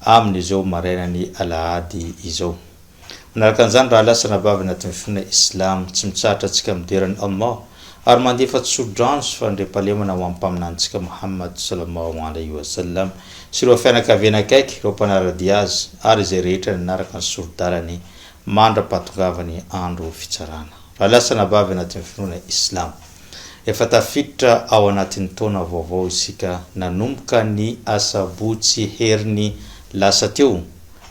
amin' izao marainan' ny alahady izao. Manaraka an'izany rahalahy sy rahavavy anatin' ny finoana islamo, tsy mitsahatra antsika midera an' Allah ary mandefa tsodrano sy fandriampahalemana ho amin'ny Mpaminanintsika Mohamad sallallahu alaihi wa sallam sy ireo fianakaviany akaiky, ireo mpanara-dia azy ary izay rehetra nanaraka ny sori-dalany mandra-pahatongavany andro fitsarana. Rahalahy sy rahavavy anatin' ny finoana islamo. Efa tafiditra ao anatin'ny taona vaovao isika nanomboka ny asabotsy heriny lasa teo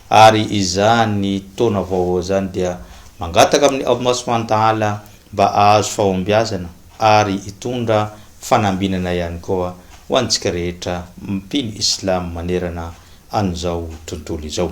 ary izany taona vaovao izany dia mangataka amin'ny Aomo Soantaala mba ahazo fahombiazana ary hitondra fanambinana ihany koa ho antsika rehetra mpino Islam manerana an'izao tontolo izao.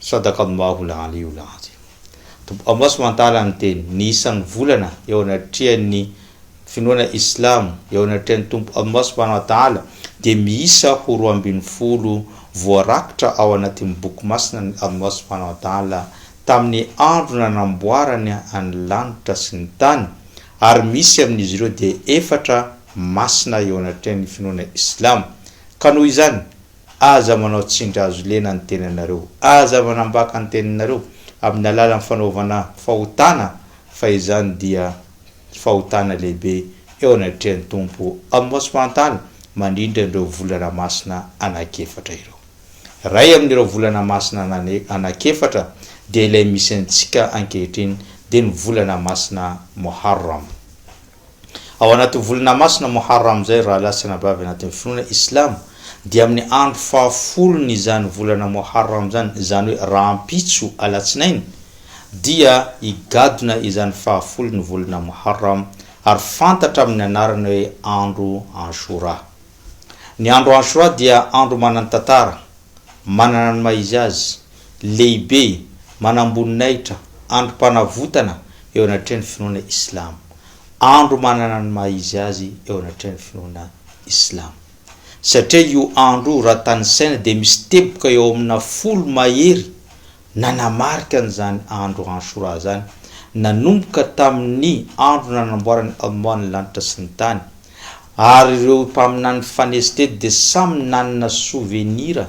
Sadaka amin'ny maha olana io lanja io. Tompo Amos Mantala niteny, Ny isan'ny volana eo anatrehan'ny finoana islamo, eo anatrehan'ny Tompo Allah Subhanahu wa Ta'ala, dia miisa ho roa ambin'ny folo voarakitra ao anatin'ny Boky Masinan'i Allah Subhanahu wa Ta'ala tamin'ny andro nanamboarany ny lanitra sy ny tany, ary misy amin'izy ireo dia efatra masina eo anatrehan'ny finoana islamo. Ka noho izany, Aza manao tsindry hazo lena ny tenanareo. Aza manambaka ny teninareo amin'ny alalan'ny fanaovana fahotana, fa izany dia fahotana lehibe eo anatrehan'ny Tompo amin'ny maso fahantany mandritra an'ireo volana masina anankiefatra ireo. Iray amin'ireo volana masina anankiefatra dia ilay misy antsika ankehitriny, dia ny volana masina Muharram. Ao anatin'ny volana masina Moharram izay, rahalahy sy anabavy anatin'ny finoana Islamo, dia amin'ny andro fahafolon'izany volana Moharram izany, izany hoe rahampitso Alatsinainy, dia higadona izany fahafolon'ny volana Moharram ary fantatra amin'ny anarana hoe andro Ashura. Ny andro Ashura dia andro manan-tantara. manana ny maha izy azy, lehibe, manamboninahitra, androm-panavotana eo anatrehan'ny finoana Islamo, andro manana ny maha izy azy eo anatrehan'ny finoana Islamo. Satria io andro io raha tanisaina dia misy teboka eo amina folo mahery Nanamarika an'izany andro Ashura izany nanomboka tamin'ny andro nanamboaran'i Allah ny lanitra sy ny tany, ary ireo mpaminany nifanesy teto dia samy nanana sovenira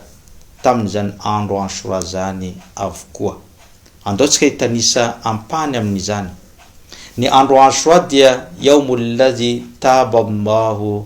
tamin'izany andro Ashura izany avokoa. Andao tsika hitanisa ampahany amin'izany. Ny andro Ashura dia Yawmul ladhi taaba Allahu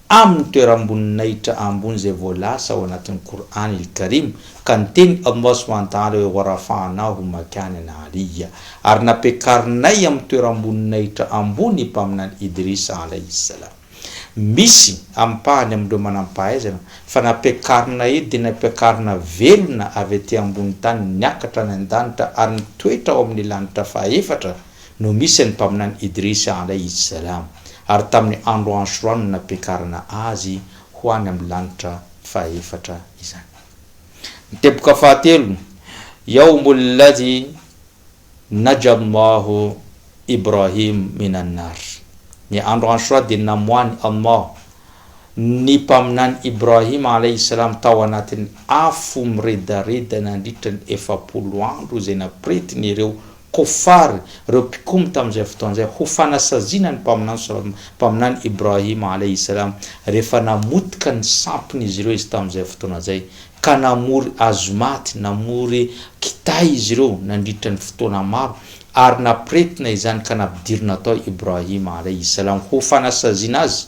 Amin'ny toeram-boninahitra ambony izay voalasa ao anatin'ny Qur'an il-Karim, ka niteny Allah subhanahu wa ta'ala hoe, Wa rafa'nahu makanan 'aliyya, ary nampiakarinay amin'ny toeram-boninahitra ambony i Mpaminany Idris alayhi s-salam. Misy, ampahany amin'ireo manam-pahaizana, fa nampiakarinay eto dia nampiakarina velona avy aty ambony tany niakatra any an-danitra ary nitoetra ao amin'ny lanitra faha-efatra, no misy an'i Mpaminany Idrisa Alayhi Salam, ary tamin'ny andro Ashura no nampiakarana azy ho any amin'ny lanitra fahefatra izany. Ny teboka fahatelo, Yawmul Ladhi Najja Allahu Ibrahim Min An-Nar, Ny andro Ashura dia namoahan'i Allah ny Mpaminany Ibrahim Alayhi Salam tao anatin'ny afo miredareda nandritra ny efapolo andro izay nampiretin'ireo Kofar, ireo mpikomy tamin'izay fotoana izay, ho fanasaziana ny Mpaminany sal, Mpaminany Ibrahim alaihi salam, rehefa namotika ny sampin'izy ireo izy tamin'izay fotoana izay, ka namory hazomaty, namory kitay izy ireo nandritra ny fotoana maro, ary nampiretina izany ka nampidirina tao Ibrahim alaihi salam ho fanasaziana azy.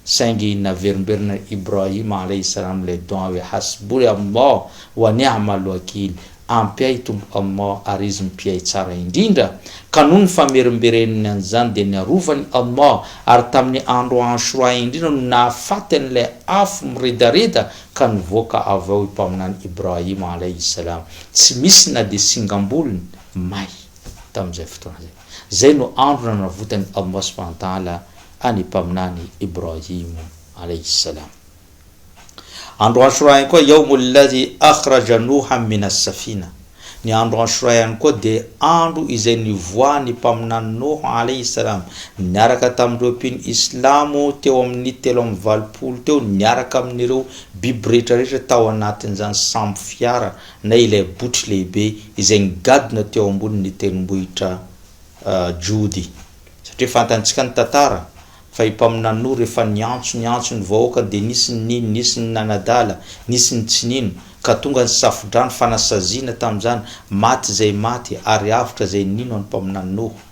Saingy naverimberina Ibrahim alaih salam ilay doa hoe Hasbouy Allah wa ni'am al-wakil, Ampy ahy Tompo Allah ary Izy Mpiahy Tsara indrindra, ka noho ny famerimbereniny an'izany dia niarovany Allah, ary tamin'ny andro Ashura indrindra no nahafaty an'ilay afo miredareda ka nivoaka avy ao i Mpaminany Ibrahim alaih salam, tsy misy na dia singam-bolony may tamin'izay fotoana izay. Izay no andro nanavotan'i Allah subhanahu wa ta'ala an'i Mpaminany Ibrahim alayhi as-salam. Andro Ashura ihany koa Yawmul ladhi akhraja Nouhan min as-safina, Ny andro Ashura ihany koa dia andro izay nivoahan'ny Mpaminany Noh alayhi as-salam niaraka tamin'ireo mpino Islamo teo amin'ny telo amby valopolo teo niaraka amin'ireo biby rehetra rehetra tao anatin'izany sambo fiara na ilay botry lehibe izay nigadona teo ambonin' ny tendrombohitra Jody. Satria fantantsika ny tantara fa i Mpaminanoa rehefa niantso niantso ny vahoakany dia nisy ny nino, nisy ny nanadala, nisy ny tsy nino, ka tonga ny Safodrano fanasaziana tamin'izany, maty izay maty ary avotra izay nino an'i Mpaminanoa.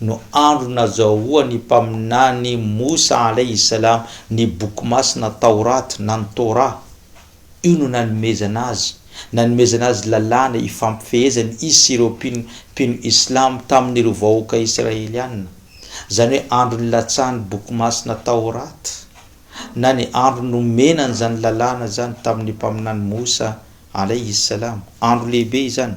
no andro nazahoan'ny Mpaminany Moussa alaih salam ny Boky Masina Tawrat na ny Torah. Io no nanomezana azy nanomezana azy lalàna ifampifehezany izy sy ireo mpino mpino Islam tamin'ireo vahoaka Israeliana, izany hoe andro nilatsahan'ny Boky Masina Tawrat na ny andro nomena an'izany lalàna izany tamin'ny Mpaminany Moussa alaih salam. Andro lehibe izany.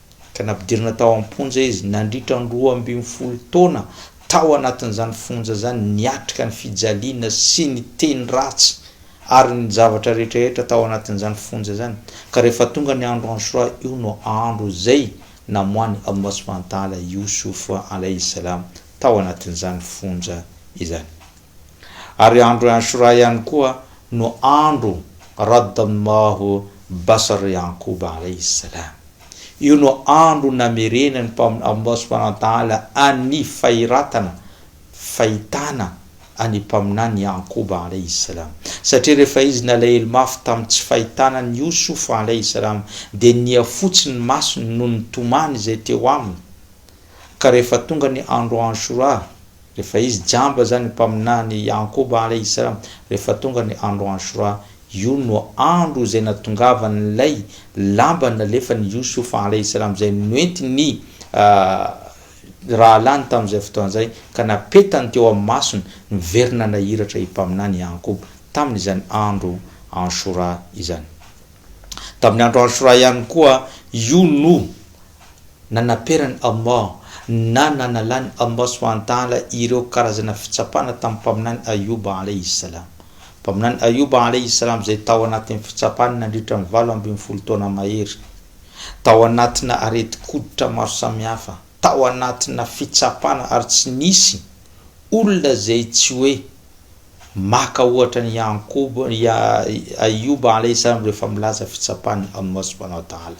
ka nampidirina tao am-ponja izy nandritra ny roa ambin'ny folo taona tao anatin'izany fonja izany niatrika ny fijaliana sy ny teny ratsy ary ny zavatra rehetrarehetra tao anatin'izany fonja izany ka rehefa tonga ny andro Ashura io no andro izay namoahany Allah subhanahu wa ta'ala Youssouf alayhi salam tao anatin'izany fonja izany ary andro Ashura ihany koa no andro Radd Allahu Basar Ya'qub alaihi salam. Io no andro namerenan'ny Mpaminany Allah subhanahu wa ta'ala an'ny fahiratana, fahitana, an'ny Mpaminany Ya'qub alaihi salam. Satria rehefa izy nalahelo mafy tamin'ny tsy fahitana an'i Yusuf alaihi salam dia niha fotsy ny masony noho ny tomany izay teo aminy, ka rehefa tonga ny andro Ashura Rehefa izy jamba izany mpaminany Yakoba ary Israel, rehefa tonga ny andro Ashura, io no andro izay natongavan'ilay lamba nalefan'i Youssouf alayhi salam izay noentin'ny rahalahiny tamin'izay fotoana izay ka napetany teo amin'ny masony, niverina nahiratra i mpaminany Yakoba tamin'izany andro Ashura izany. Tamin'ny andro Ashura ihany koa, io no Nanaperan'i Allah na nanalan'i Allah subhanahu wa ta'ala ireo karazana fitsapana tamin'ny Mpaminany Ayyub alayhi s-salam. Mpaminany Ayyub alayhi s-salam izay tao anatin'ny fitsapana nandritra ny valo ambin'ny folo taona mahery, tao anatina aretin-koditra maro samihafa, tao anatina fitsapana ary tsy nisy olona izay tsy hoe maka ohatra an'i Ya'qub, Ayyub alayhi s-salam rehefa milaza fitsapan'i Allah subhanahu wa ta'ala.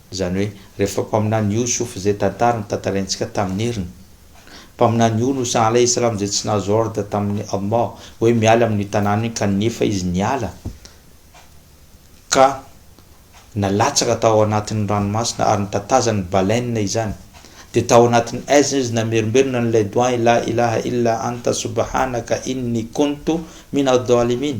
Izany hoe, rehefa mpaminany Yusuf izay tantara no tantaraintsika tamin'ny heriny. Mpaminany Yunus alaihi salam izay tsy nahazo ordre tamin'i Allah hoe miala amin'io tanàna io kanefa izy niala ka nalatsaka tao anatin'ny ranomasina ary notatazan'ny baleine izany. Dia tao anatin'ny aizina izy namerimberina an'ilay doa'i la ilaha illa anta subhanaka inni kuntu minadh-dhalimin.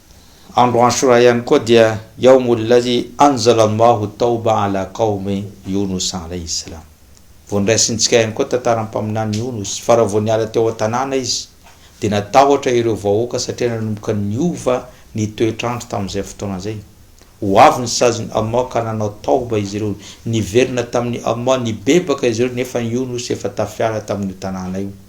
Andro Ashura ihany koa dia Yawmul ladhi anzala Allahu tawba ala qawmi Yunus alayhi salam. Vondraisintsika ihany koa tantaran'ny Mpaminany Yunus fa raha vao niala teo an-tanàna izy dia natahotra ireo vahoaka satria nanomboka niova ny toetr'andro tamin'izay fotoana izay. Ho avy ny sazin'i Allah ka nanao tawba izy ireo. Niverina tamin'i Allah, nibebaka izy ireo nefa an'i Yunus efa tafiala tamin'io tanàna io.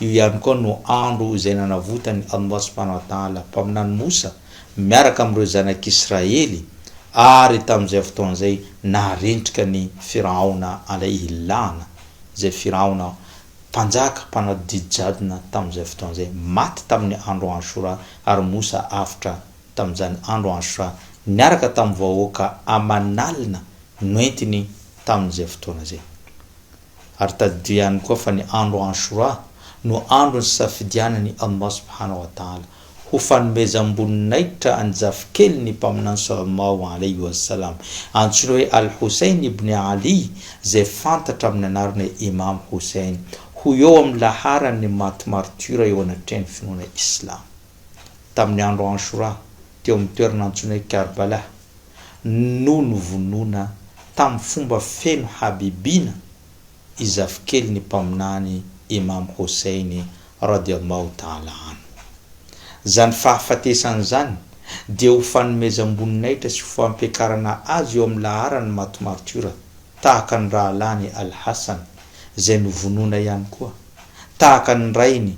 Io ihany koa no andro izay nanavotan'i Allah Subhanahu wa Ta'ala mpaminany Mosa miaraka amin'ireo zanak'Israely ary tamin'izay fotoana izay naharentrika an'i Firaona Alayhi La'na izay Firaona mpanjaka mpanadodidy jadona tamin'izay fotoana izay maty tamin'ny andro Ashura ary Mosa avotra tamin'izany andro Ashura niaraka tamin'ny vahoaka aman'alina noentiny tamin'izay fotoana izay. Ary tadidio ihany koa fa ny andro Ashura no andro nisafidianan'i Allah subhanahu wa ta'ala ho fanomezam-boninahitra an'i zafikeliny Mpaminany sallallahu alayhi wa sallam antsoina hoe Al-Houssayn ibn 'Ali izay fantatra amin'ny anarana hoe Imam Houssayn ho eo amin'ny laharan'ny maty martiora eo anatrehan'ny finoana Islamo. tamin'ny andro Anshoura teo amin'ny toerana antsoina hoe Karbala no novonoina tamin'ny fomba feno habibiana i zafikelin'ny Mpaminany Imam Houssein radiallahu ta'ala anhu. Izany fahafatesany izany dia ho fanomezam-boninahitra sy ho fampiakarana azy eo amin'ny laharan'ny maty martiora tahaka ny rahalahiny Al-Hassan izay novonoina ihany koa tahaka ny rainy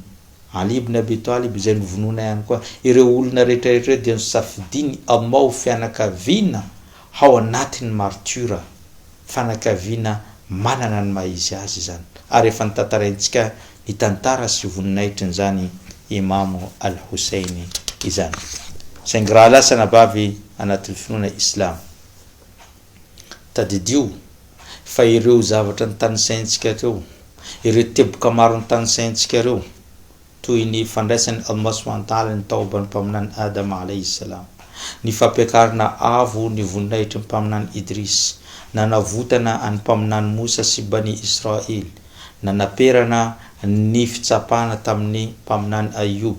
Ali ibn Abi Talib izay novonoina ihany koa. Ireo olona rehetra ireo dia nosafidian'i Allah ho fianakaviana hao anatin'ny martiora, fanakaviana manana ny maha izy azy izany. Ary efa notantaraintsika ny tantara sy voninahitrin'izany Imamo Al-Houssein izany. Saingy raha lasa anabavy anatin'ny finoana Islamo. Tadidio fa ireo zavatra notanisaintsika ireo, ireo teboka maro notanisaintsika ireo, toy ny fandraisan'i Allah subhanahu wa ta'ala ny taoban'ny Mpaminany Adama alayhi salam, ny fampiakarana avo ny voninahitry ny Mpaminany Idris, nanavotana an'i Mpaminany Moussa sy Bani Israil, nanaperana ny fitsapana tamin'ny Mpaminany Ayyub,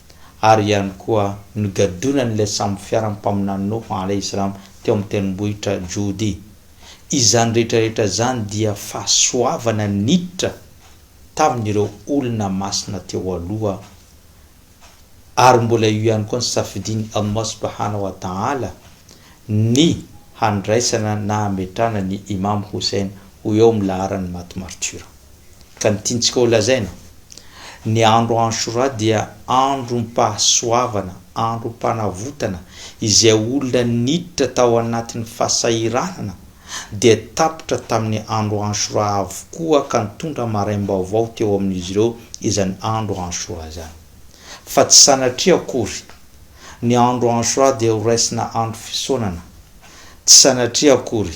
ary ihany koa nogadonan'ilay sambo fiaran'ny mpaminany Noho alaihis-salam teo amin'ny tendrombohitra Joudi. Izany rehetrarehetra izany dia fahasoavana niditra tamin'ireo olona masina teo aloha, ary mbola io ihany koa ny safidin'i Allah subhanahu wa ta'ala ny handraisana na hametrahana ny Imam Houssein ho eo amin'ny laharan'ny maty martiora. Ka ny tiantsika ho lazaina, ny andro Ashura dia androm-pahasoavana, androm-panavotana, izay olona niditra tao anatin'ny fahasahiranana dia tapitra tamin'ny andro Ashura avokoa ka nitondra maraim-baovao teo amin'izy ireo izany andro Ashura izany. Fa tsy sanatria akory, ny andro Ashura dia horaisina andro fisaonana. Tsy sanatria akory.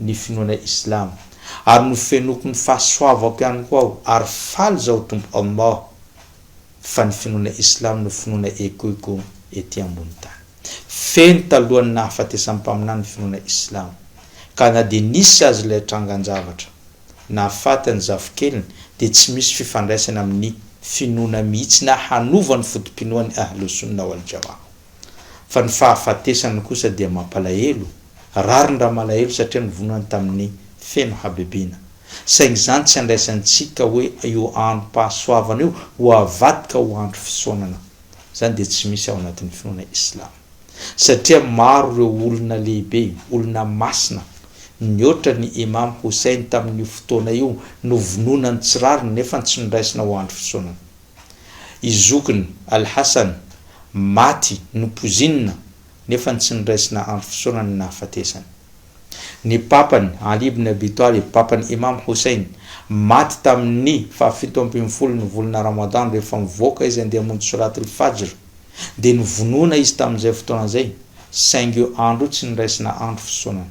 ny finoana islamo ary nofenoiko ny fahasoavako ihany koa aho ary faly zaho Tompo Allah fa ny finoana islamo no finoana ekoiko ety ambony tany. Feno talohan'ny nahafatesan'ny mpaminany ny finoana islamo ka na dia nisy aza ilay trangan-javatra nahafaty ny zafikeliny dia tsy misy fifandraisany amin'ny finoana mihitsy na hanova ny foto-pinoan'ny Ahlus-Sunna wal-Jamaah. Fa ny fahafatesany kosa dia mampalahelo, rarin-dRamalahelo satria novonoiny tamin'ny feno habibiana. Saingy izany tsy andraisantsika hoe io androm-pahasoavana io ho avadika ho andro fisaonana. Izany dia tsy misy ao anatin'ny finoana islam. Satria maro ireo olona lehibe, olona masina, nihoatra an'i Imam Houssayn tamin'io fotoana io novonoina ny tsy rariny nefa tsy noraisina ho andro fisaonana. I zokiny Al-Hassan maty nopozinina nefa ny tsy niraisina andro fisaorana ny nahafatesany. Ny papany Ali ibn Abi Talib, papan'i Imam Houssein, maty tamin'ny fahafito ambin'ny folo ny volana Ramadan rehefa mivoaka izy handeha hamonjy Solat al-Fajr, dia novonoina izy tamin'izay fotoana izay, saingy io andro io tsy niraisina andro fisaonana.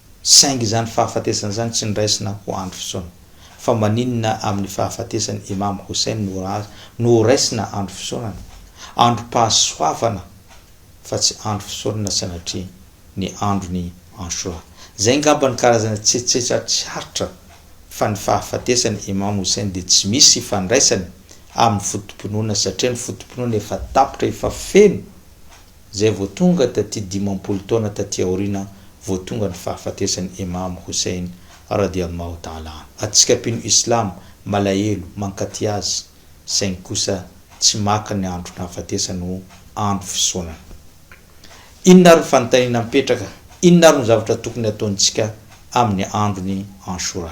Saingy izany fahafatesana izany tsy niraisina ho andro fisaona. Fa maninona amin'ny fahafatesan'i Imam Houssayn no no horaisina andro fisaonana? Androm-pahasoavana fa tsy andro fisaonana sanatria ny andron'i Ashura. Izay ngamba ny karazana tsetsetra tsy aritra fa ny fahafatesan'i Imam Houssayn dia tsy misy ifandraisany amin'ny foto-pinoana satria ny foto-pinoana efa tapitra efa feno izay vao tonga taty dimampolo taona taty aoriana vao tonga ny fahafatesan'i Imam Hussein, radiallahu ta'ala anhu. Antsika mpino Islam malahelo mankaty azy, saingy kosa tsy maka ny andro nahafatesany ho andro fisaonana. Inona ary ny fanontaniana mipetraka, inona ary no zavatra tokony hataontsika amin'ny andron'i Anshura?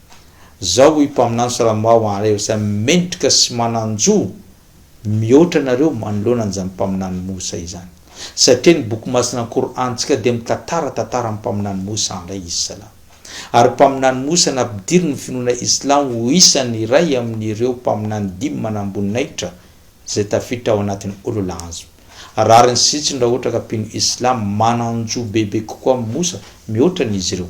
Zao hoy mpaminany salamo ao anareo izay mendrika sy manan-jo mihoatra anareo manoloana an'izany mpaminany Mosa izany. Satria ny boky masina ny Qour'an-tsika dia mitantara tantaran'ny mpaminany Mosa alaihi salam. Ary mpaminany Mosa nampidirin'ny finoana islamo ho isan'ny iray amin'ireo mpaminany dimy manamboninahitra izay tafiditra ao anatin'ny ulul azm. Rariny sy zitsiny raha ohatra ka mpino islamo manan-jo bebe kokoa amin'i Mosa mihoatra ny izy ireo.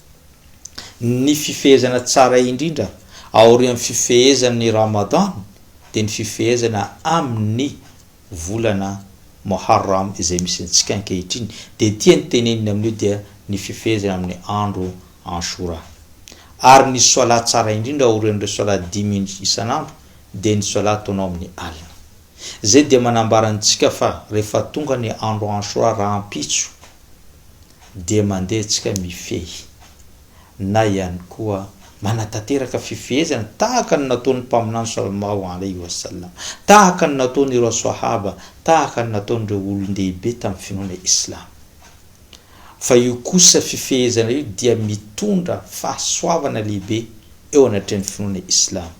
Ny fifehezana tsara indrindra aorian'ny fifehezan'ny Ramadan dia ny fifehezana amin'ny volana Moharram izay misy antsika ankehitriny dia ity ny teneniny amin'io dia ny fifehezana amin'ny andro Anshura. Ary ny Swalah tsara indrindra aorian'ireo Swalah dimy isan'andro dia ny Swalah ataonao amin'ny alina. Izay dia manambara antsika fa rehefa tonga ny andro Anshura rahampitso, dia mandehitsika mifehy na ihany koa manatanteraka fifehezana tahaka ny nataon'ny Mpaminany Salmahu alaihi wa sallam, tahaka ny nataon'ireo Swahaba, tahaka ny nataon'ireo olon-dehibe tamin'ny finoana Islamo. Fa io kosa fifehezana io dia mitondra fahasoavana lehibe eo anatrehan'ny finoana Islamo.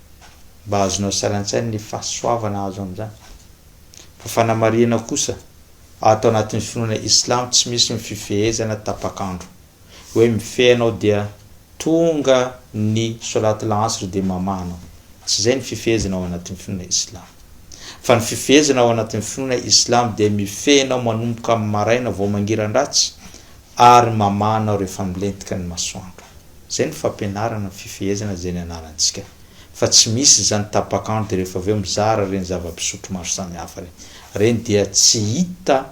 mba azonao sary an-tsaina ny fahasoavana azo amin'izany. Fa fanamarihana kosa, ato anatin'ny finoana Islam tsy misy ny fifehezana tapak'andro, hoe mifehy anao dia tonga ny Solat al-Asr dia mamaha anao. Tsy izay ny fifehezana ao anatin'ny finoana Islam. Fa ny fifehezana ao anatin'ny finoana Islam dia mifehy anao manomboka amin'ny maraina vao mangiran-dratsy ary mamaha anao rehefa milentika ny masoandro. Zay ny fampianarana ny fifehezana izay nianarantsika fa tsy misy zany tapak'andro de rehefa avy eo mizara reny zava-pisotro maro samihafa reny. Reny dia tsy hita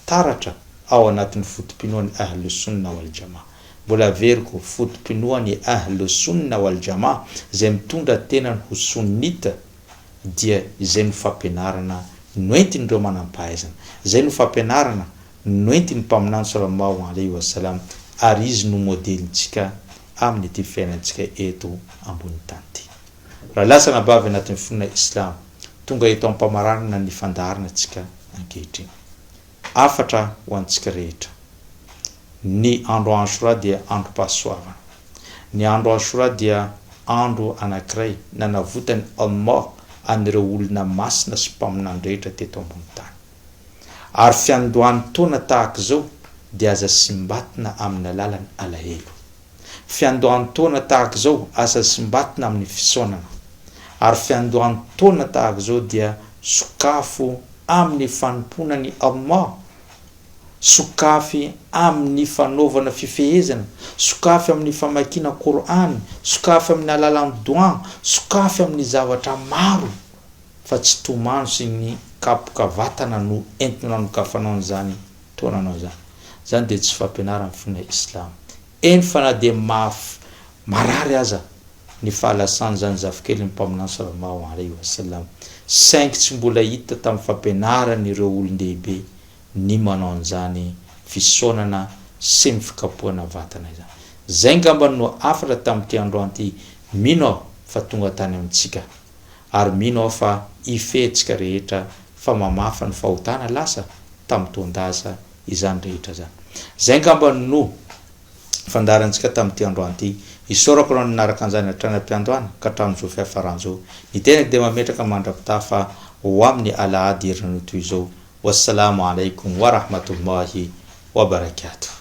taratra ao anatin'ny foto-pinoan'ny Ahl-Sunnah wal Jamaah. Mbola averiko, foto-pinoan'ny Ahl-Sunnah wal Jamaah, izay mitondra tenany ho Sunnite, dia izay no fampianarana noentin'ireo manam-pahaizana. Izay no fampianarana Noentin'ny Mpaminany Salama ho an'ilay Io As-Salam, ary izy no modelintsika amin'ity fiainantsika eto ambonin'ny tany ity. Raha lasa anabavy anatin'ny finoana Islamo, tonga eto am-pamaranana ny fandaharana antsika ankehitriny. Hafatra ho antsika rehetra. Ny andro Ashura dia androm-pahasoavana. Ny andro Ashura dia andro anankiray nanavotan'i Allah an'ireo olona masina sy mpaminany rehetra teto ambonin'ny tany. Ary fiandohan taona tahaka izao dia aza simbatina amin'ny alalan alahelo. Fiandohan taona tahaka izao aza simbatina amin'ny fisaonana. Ary fiandohan taona tahaka izao dia sokafo amin'ny fanompoana ny Allah. Sokafy amin'ny fanaovana fifehezana, sokafy amin'ny famakiana Kor'any, sokafy amin'ny alalan doa, sokafy amin'ny zavatra maro. fa tsy tomany sy ny kapoka vatana no entinao ny kafanao an'izany taonanao izany. Izany dia tsy fampianaran'ny finoana islamo. Eny fa na dia mahaf marary aza ny fahalasan'izany zafikelin'ny Mpaminany sallallahu alaihi wa sallam, saingy tsy mbola hita tamin'ny fampianaran'ireo olon-dehibe ny manao an'izany fisaonana sy ny fikapohana vatana izany. Izay ngambany no hafatra tamin'ity androany ity, mino aho fa tonga tany amintsika. Ary mino aho fa hifehitsika rehetra fa mamafa ny fahotana lasa tamin'ny toan-daza izany rehetra izany. Izay angamba no fandaharantsika tamin'ity androany ity. Isaorako anao nanaraka an'izany hatrany am-piandohana ka hatramin'izao fiafaran'izao. Ny tenako dia mametraka mandra-pitaha fa ho amin'ny alahady herinandro toy izao. Wassalamu alaikum wa rahmatullahi wa barakatuh.